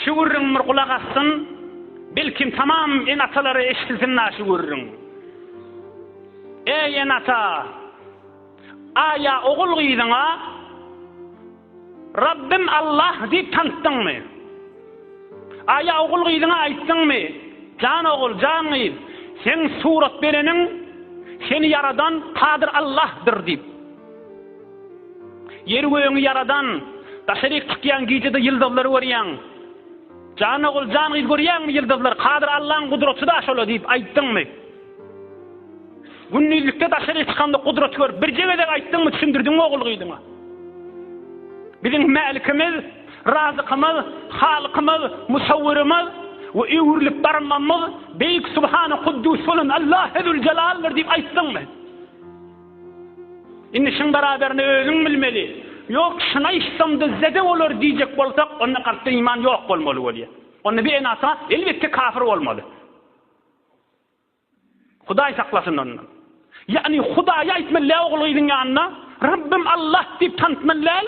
Şu gürrüň bir gulak assyn, belkim tamam en atalary eşitilsin na şu gürrüň. Eý en ata, aýa ogul gyzyňa Rabbim Allah diýip tanşdyňmy? Aýa ogul gyzyňa aýtdyňmy? Jan ogul, jan gyz, sen surat bereniň, seni ýaradan Kadyr Allahdyr diýip. Ýeri-gögüňi ýaradan, daşaryk çykýaň gijede ýyldyzlary görýäň. Jan ogul, jan gyz görýäňmi ýyldyzlar, Kadyr Allaň gudraty-da şola diýip aýtdyňmy? Gündizlikde daşaryk çykanda gudraty görüp birje gezek aýtdyňmy, düşündirdiňmi ogul gyzyňa? Biziň Mälikimiz, Razykymyz, Halykymyz, Musawwyrymyz we öwrülip barmamyz beýik Subhany Kuddus bolan Allahezüljelaldyr diýip aýtdyňmy? Indi şuň baraberini özüň bilmeli. Ýok, şuny aýtsam dyzzede bolar diýjek bolsak, onda kalpda iman ýok bolmaly bolýar. Onda bir enata, elbetde, kafir bolmaly. Hudaý saklasyn ondan. Ýagny Hudaýy aýtmaly däl ogul-gyzyň ýanynda, Rabbym Allah diýip tanatmaly däl.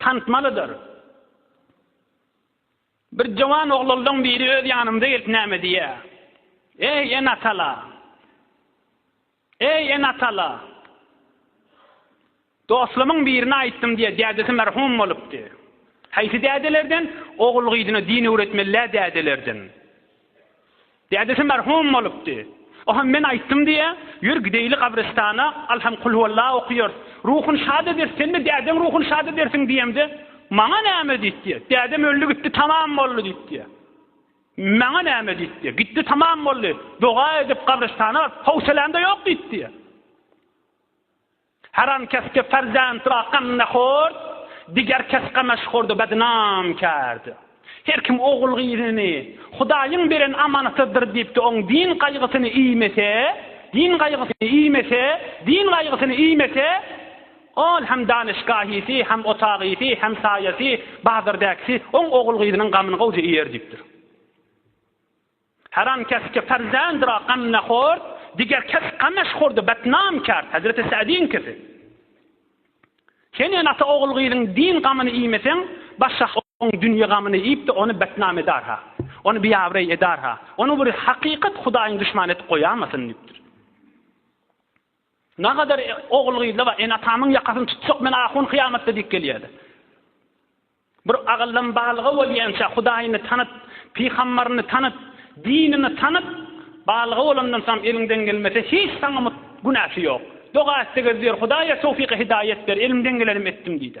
Tantmalydyr. Bir jowan oglaldan biri öz ýanymyza gelip näme diýýä? Eý, en atala! Eý, en atala! Dostlamyň birine aýtdym diýýä, dädesi merhum bolupdy. Haýsy dädelerden? Ogul gyzyna din öwretmeli-dä dädelerden. Dädesi merhum bolupdy. O hem men aýtdym diýýä, Ýör gideýli gabrystana, al hem kulhuwalla okaýarys. Ruhuny şat ederis, sen-de dädeň ruhuny şat edersiň diýemde, Maňa näme diýipdi. Dädem öldi gitdi tamam boldy diýipdi. Maňa näme diýipdi. Gitdi tamam boldy. Doga edip gabrystana baryp, howsalam-da ýok diýipdi. Haram kesgi perzent ra ganna hort, diger kes ganaş horda bednam kärdi. Her kim ogul gyzyny Hudaýyň beren amanatydyr diýipdi oň din gaýgysyny iýmese, din gaýgysyny iýmese, din gaýgysyny iýmese, ol hem danyşgahysy, hem otagysy, hem saýasy, bazardäkisi oň ogul gyzynyň gamyny gowja iýer diýipdir. Haram keske perzendira gamnahort, diger kes gamashhorda betnam kert, Hezreti Sa'diňkisi. Sen ýa ata ogul-gyzyň din gamyny iýmeseň, başga oň dünýe gamyny iýip-de ony betnam edar-ha, ony biabraý edar-ha, ony bir hakykat Hudaýyň duşmany edip goýamasyn diýipdir. Nagadar ogul-gyzlar bar, ene-atamyň ýakasyny tutsak men ahun kyýamatda diýip gelýärdi. Bir agyldam balyga bolýança Hudaýyny tanyp, pygambaryny tanyp, dinini tanyp, balyga bolandan soňam eliňden gelmese hiç saňa günäsi ýok. Doga etse gezýär, Hudaýa towfyk-i-hidaýet ber, elimden gelenim etdim diýdi.